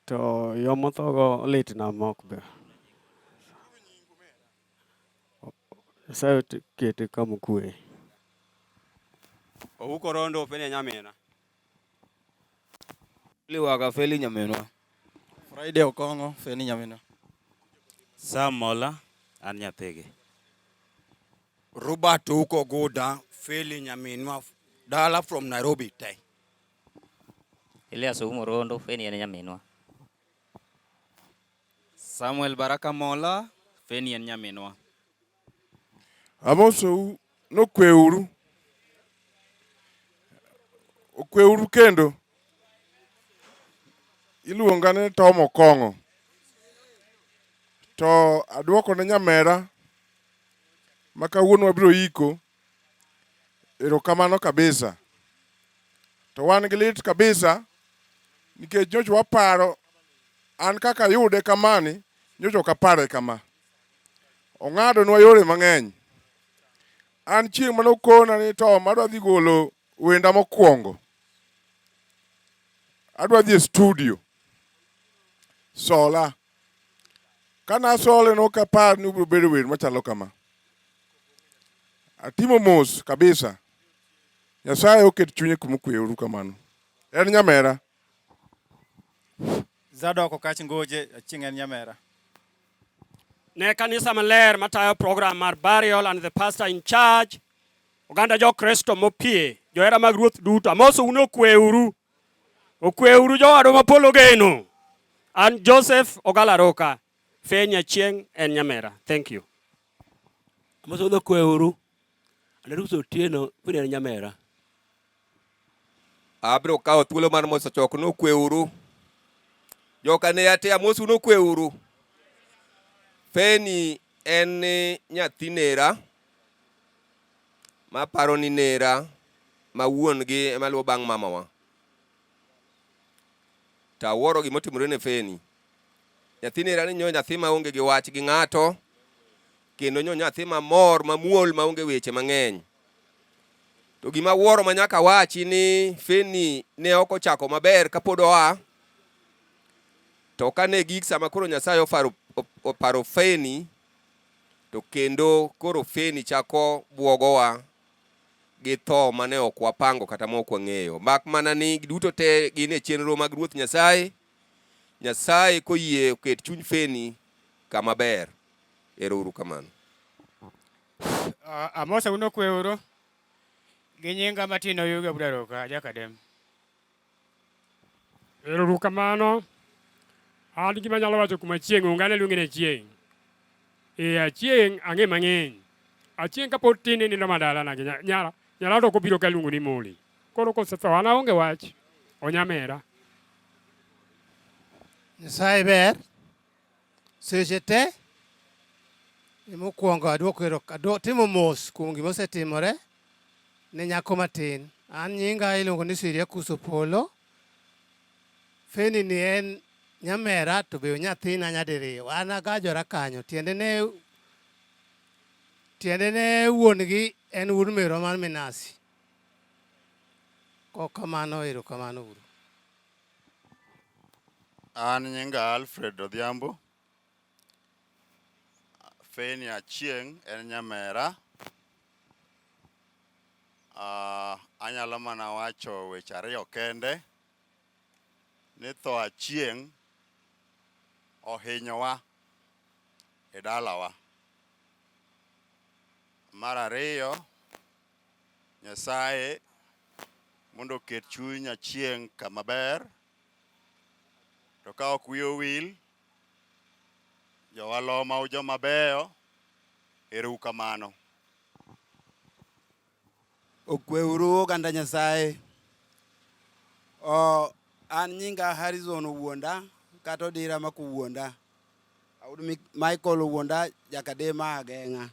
To yo mothogo litna mok be. Nyasaye okete kama okwe. Ouko rondo ofeli nyamina. Liwaga feli nyaminwa. Friday Okongo feli nyaminwa. Sam Mola an nyathigi. Robert Ouko Guda feli nyaminwa. Dala from Nairobi te. Elias Oumo Rondo, Feni en nyaminwa. Samuel Baraka Mola, Feni en nyaminwa. Amosou nokweuru okweuru kendo iluonga ni Tom Okong'o to aduoko ne nyamera ma kawuono wabiro iko Erokamano kabisa. To wan gi lit kabisa nikech nyocha waparo an kaka yude kamani nyocha ok apare kama. Ong'adonwa yore mang'eny. An chieng' mane okona ni to madwa dhi golo wenda mokwongo. Adwa dhi e studio. Sola. Kane asole ne ok apar ni ubiro bedo wer machalo kama. Atimo mos kabisa. Nyasaye oket chunye kuma okwe uru kamano. En nyamera. Zadok Okach Ngoje aching en nyamera. Ne kanisa maler matayo program mar burial and the pastor in charge. Oganda jo Kristo mopie, johera mag Ruoth duto. Amoso un okwe uru. Okweuru jowadwa ma polo geno. An Joseph Ogala Roka, Fair Nyachieng en Nyamera. Thank you. Amasodho kweuru. Anarukus Otieno, Fair en Nyamera. Abiro kawo thuolo mar moso chok nokweuru. Joka ne ate amosu nokweuru. Feni en nyathi nera. ma paro ni nera ma wuon gi ema luwo bang' mamawa. To awuoro gima otimore ne Feni. Nyathi nera ni nyo nyathi ma onge gi wach gi ng'ato kendo nyo nyathi ma mor ma muol ma onge weche mang'eny. To gima awuoro ma nyaka wachi ni Feni ne ok ochako maber kapod oa to kane gik sama koro Nyasaye oparo, oparo Feni To kendo koro feni chako bwogowa gi tho mane ok wapango kata ma ok wang'eyo. Mak mana ni duto te gin e chenro mag Ruoth Nyasaye. Nyasaye koyie oket chuny feni kama ber. Ero uru kamano. Amosa uno kwe uru. Gi nyinga matino yuga budaroka ajakadem. Ero kamano. An gima nyalo wacho kuma chieng' onge ane luonge ni achieng'. Ee achieng' ang'e mang'eny. Achieng' kapod tin ni nindo madala na gi nyara. Nyara to kobiro ka luongo ni moli. Koro kosetho an aonge wach. Onyamera. Nyasaye ber. Seche te mokwongo adwoko ero timo mos kuom gima osetimore ne nyako matin. An nyinga iluongo ni Siria Kuso Polo. Feni ni en nyamera to be onyathina nyadiriyo. An agajora kanyo tiende ne tiende ne wuon gi en wuod merwa mar Minasi. Kokamano erokamano uru. An nyinga Alfred Odhiambo, Feni Achieng' en nyamera. Ah, anyalo mana wacho weche ariyo kende, ni tho Achieng' ohinyowa e dalawa. Mar ariyo. Nyasaye mondo oket chuny Achieng' kama ber, to ka ok wiye owil, jowaloma u joma beyo, ero u kamano. Okwe uru oganda Nyasaye. Oh, an nyinga Harrison Owuonda, kata Odira ma kowuonda. Michael Owuonda, Jakadema Ageng'a.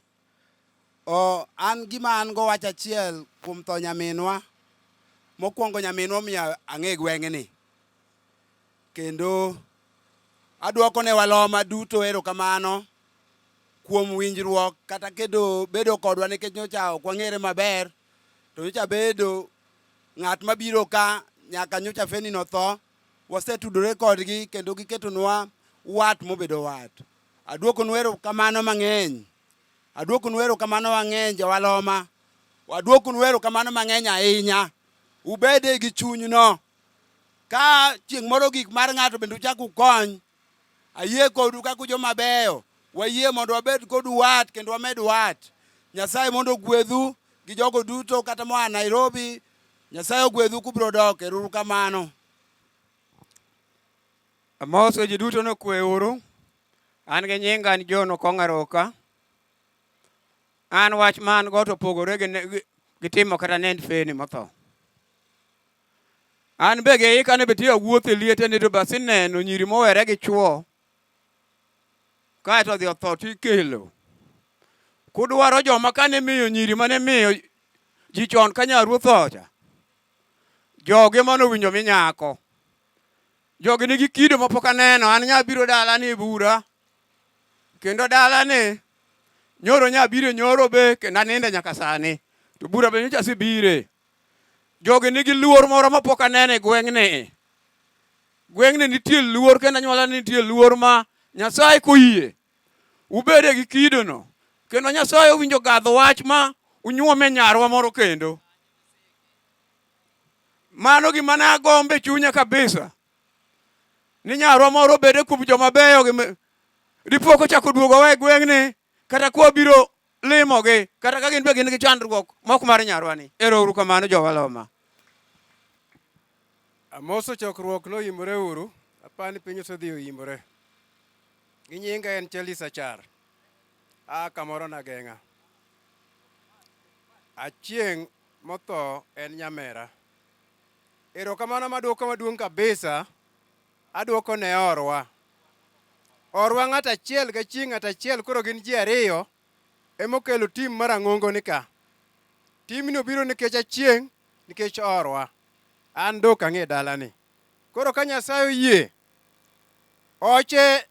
Oh, an gima an go wach achiel kuom tho nyaminwa. Mokwongo nyaminwa omiyo ang'e gweng'ni. Kendo adwoko ne waloma duto erokamano kuom winjruok kata kedo bedo kodwa nikech nyocha ok wang'ere maber to nyocha bedo ng'at mabiro ka nyaka nyocha feni notho wasetudore kodgi kendo giketonwa wat mobedo wat Aduokonu erokamano mang'eny. Aduokonu erokamano mang'eny jowaloma. Waduokonu erokamano mang'eny ahinya. Ubede gi chunyno. Ka chieng' moro gik mar ng'ato bende uchak ukony, ayie kodu kaka joma beyo. Wayie mondo wabed kodu wat kendo wamed wat. Nyasaye mondo ogwedhu gi jogo duto kata moa Nairobi. Nyasaye ogwedhu kubro dok. Erouru kamano. Amoso ji duto nokwe uru. An gi nyinga an John Okong' Aroka. An wach ma an go to opogore gi ne- gi- gi timo kata nend feni motho. An be gi ika ni bitiyo wuoth e liete ni to be asineno nyiri mowere gi chwo. Kaeto odhi otho to ikelo. Kudwaro joma kane miyo nyiri mane miyo ji chon ka nyaruoth ocha. Jogi mane owinjo mi nyako. Jogi nigi kido ma pok aneno. An nya biro dala ni bura. Kendo dala ni nyoro nya biro nyoro be kendo aninde nyaka sani. To bura be nyocha asebire. Jogi nigi luor moro ma pok aneno e gweng'ni. Gweng'ni nitie luor kendo anyuola nitie luor ma Nyasaye koyie ubede gi kido no. Kendo Nyasaye owinjo gadh wach ma unyuome nyarwa moro kendo. Mano gima ne agombe chunya kabisa ni nyarwa moro obede kuom joma beyo dipo kochako duogo wa e gweng'ni kata kwa biro limogi kata ka gin be gin gi chandruok mok mar nyarwani. Ero uru kamano jowaloma. Amoso chokruok noyimore uru, apani piny osedhi oyimore. Gi nyinga en Charles Achar. A kamoro nageng'a. Achieng' Motho en nyamera. Erokamano maduoko maduong' kabisa aduoko ne orwa. Orwa ng'at achiel ga chi ng'at achiel koro gin ji ariyo emokelo tim mar ang'ongo ni ka. Timni obiro nikech achieng' nikech orwa. An dok ang'e dalani. Koro ka Nyasaye oyie, oche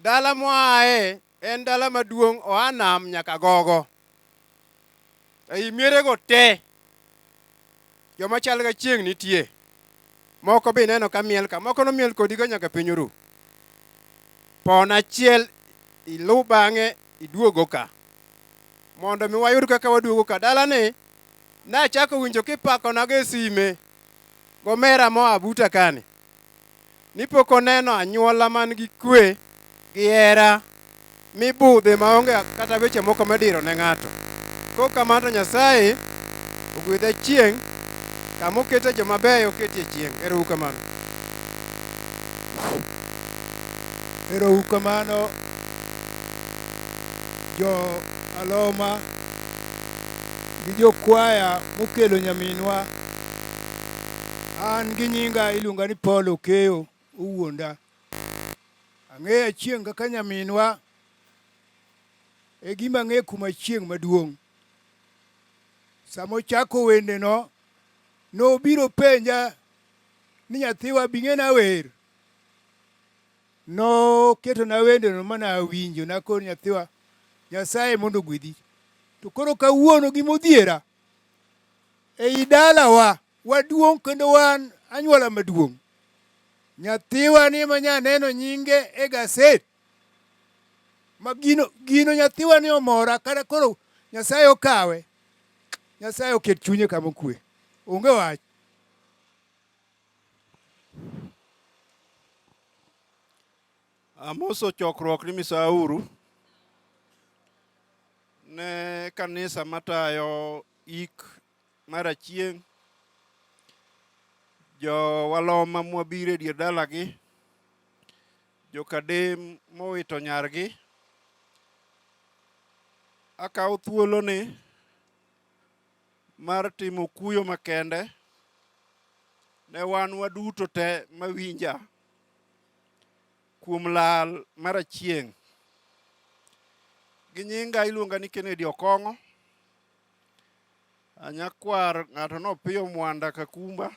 dala mwaye En dala maduong' oa nam nyaka gogo. Ei mierego te, joma chal ga chieng' nitie. Moko be ineno ka miel ka, moko nomiel kodigo nyaka piny oru. Pon achiel iluw bang'e iduogo ka. Mondo mi wayud kaka waduogo ka, dalani nachako winjo kipakona go e sime gomera moa buta kani. ni pok oneno anyuola man gi kwe gi hera mibudhe maonge kata weche moko midiro ne ng'ato. Kok kamano to Nyasaye ogwedha chieng' kama okete joma beyo oketie chieng'. Erou kamano. Erou kamano jo Aloma gi jokwaya mokelo nyaminwa. An gi nyinga iluonga ni Paul Okeyo Owuonda. Ang'eyo Achieng' kaka nyaminwa. E gima ang'eyo kuom Achieng' maduong'. Sama ochako wendeno, nobiro penja ni nyathiwa bi ng'ena wer. Noketona wendeno ma nawinjo, nakone nyathiwa, Nyasaye mondo ogwedhi. To koro kawuono gimodhiera, Ei dalawa waduong' kendo wan anyuola maduong'. Nyathiwa ni ma nyaneno nyinge e gaset ma gino, gino nyathiwa ni omora kata koro Nyasaye okawe. Nyasaye oket chunye kama okwe. Onge wach. Amoso chokruok ni misauru ne kanisa matayo ik mar achieng' jowaloma mwabiro e dier dalagi jokadem mowito nyargi akawo thuoloni mar timo kuyo makende ne wan waduto te mawinja kuom lal mar Achieng'. Gi nyinga iluonga ni Kennedy Okong'o. Anyakwar ng'ato no Opiyo Mwanda Kakumba.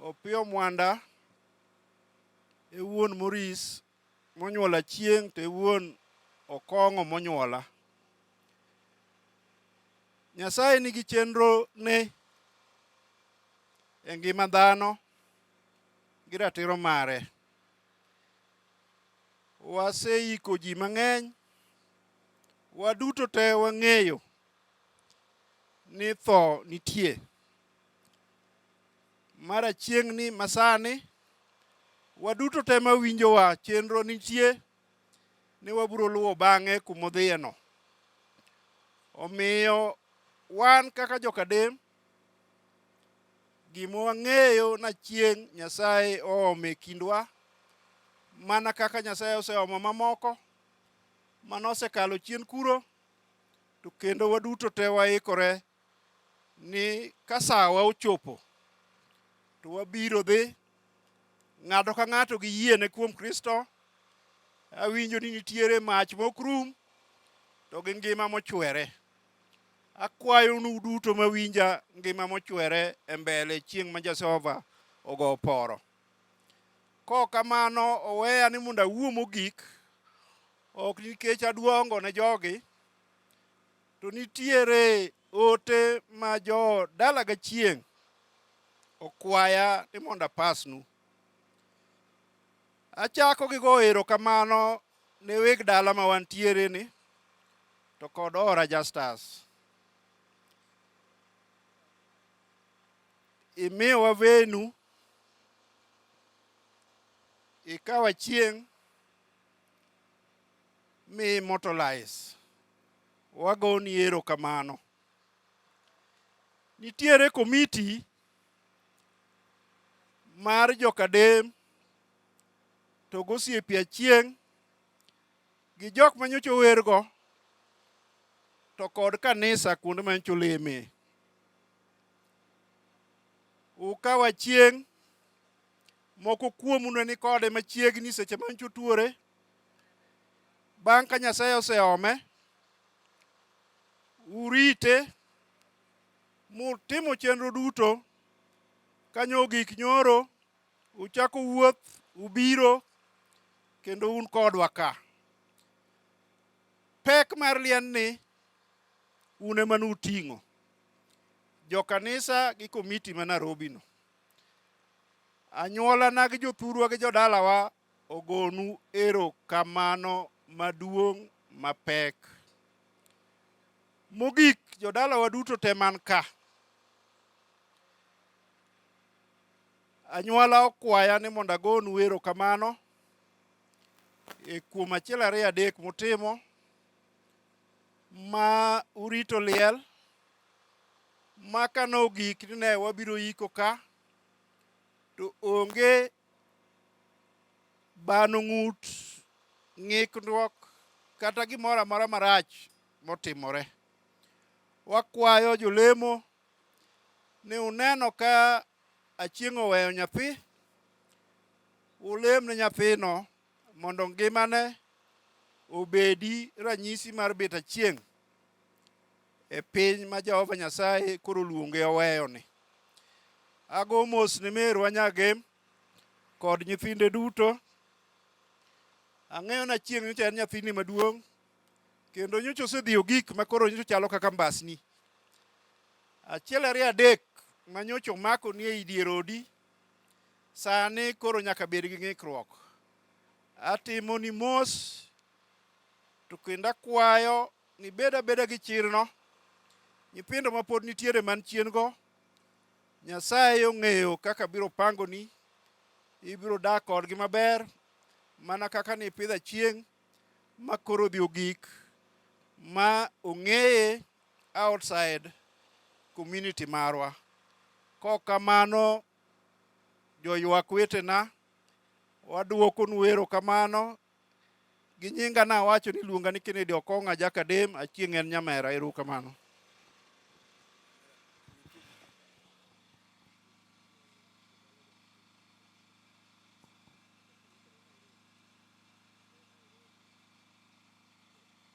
Opiyo Mwanda e wuon Moris Monyuola chieng' to e wuon okong'o monyuola. Nyasaye nigi chenro ne e ngima dhano gi ratiro mare. Waseiko ji mang'eny, waduto te wang'eyo ni tho nitie. Mara chieng'ni masani waduto te ma winjowa chenro nitie ni wabiro luwo bang'e kuma odhiyeno. Omiyo wan kaka jokadem gima wang'eyo na chieng' Nyasaye oomo e kindwa mana kaka Nyasaye oseomo mamoko mane osekalo chien kuro to kendo waduto te waikore ni ka sawa ochopo to wabiro dhi ng'ato ka ng'ato gi yiene kuom Kristo. Awinjo ni nitiere mach mok rum to gi ngima mochwere. Akwayo nu duto mawinja ngima mochwere e mbele chieng' ma Jehova ogo oporo. Kok kamano oweya ni mondo awuo mogik ok nikech aduongo ne jogi To nitiere ote ma jo dala ga chieng' okwaya ni mondo apasnu. Achako gi go erokamano ne weg dala ma wantiere ni to kod Ora Justus. Imiyowa venu, ikawa chieng' mi immortalize wagoni erokamano. Nitiere komiti mar jokadem to gosiepe achieng' gi jok manyocha owergo to kod kanisa kuonde manyocha oleme. Ukaw achieng' moko kuomu ne nikode machiegni seche manyocha otuore Bang' ka Nyasaye oseome, urite mutimo chenro duto kanyo ogik nyoro uchako wuoth ubiro kendo un kodwa ka. Pek mar liendni un ema nuting'o jokanisa gi komiti ma Nairobi no. Anyuolana gi jothurwa gi jodalawa ogonu erokamano maduong' mapek. Mogik, jodalawa duto te man ka, anyuola okwaya ni mondo agonu erokamano e kuom achiel ariyo adek mutimo ma urito liel maka nogik ni ne wabiro yiko ka to onge bano ng'ut, ng'ikruok, kata gimoro amora marach motimore. Wakwayo jolemo ni uneno ka Achieng' oweyo nyathi, ulem ne nyathino. Mondo ngimane obedi ranyisi mar bet achieng' e piny ma Jehova Nyasaye koro luonge oweyoni. Ago mos ne merwa Nyagem kod nyithinde duto. Ang'eyo na chieng' nyocha en nyathini maduong' kendo nyocha osedhi ogik ma koro nyocha chalo kaka mbasni. Achiel ariyo adek ma nyocha omako ni ei dier odi Sani koro nyaka bed gi ng'ikruok. Atimoni mos to kendo akwayo ni bed abeda gi chirno. Nyithindo ma pod nitiere man chien go, Nyasaye ong'eyo kaka biro pangoni, ibiro dak kodgi maber mana kaka ni ipidha chieng' ma koro odhi ogik ma ong'eye outside community marwa. Kok kamano joywak wetena, waduokonu erokamano. Gi nyinga nawacho ni iluonga ni Kennedy Okong'a Jakadem, Achieng' en Nyamera. Ero uru kamano.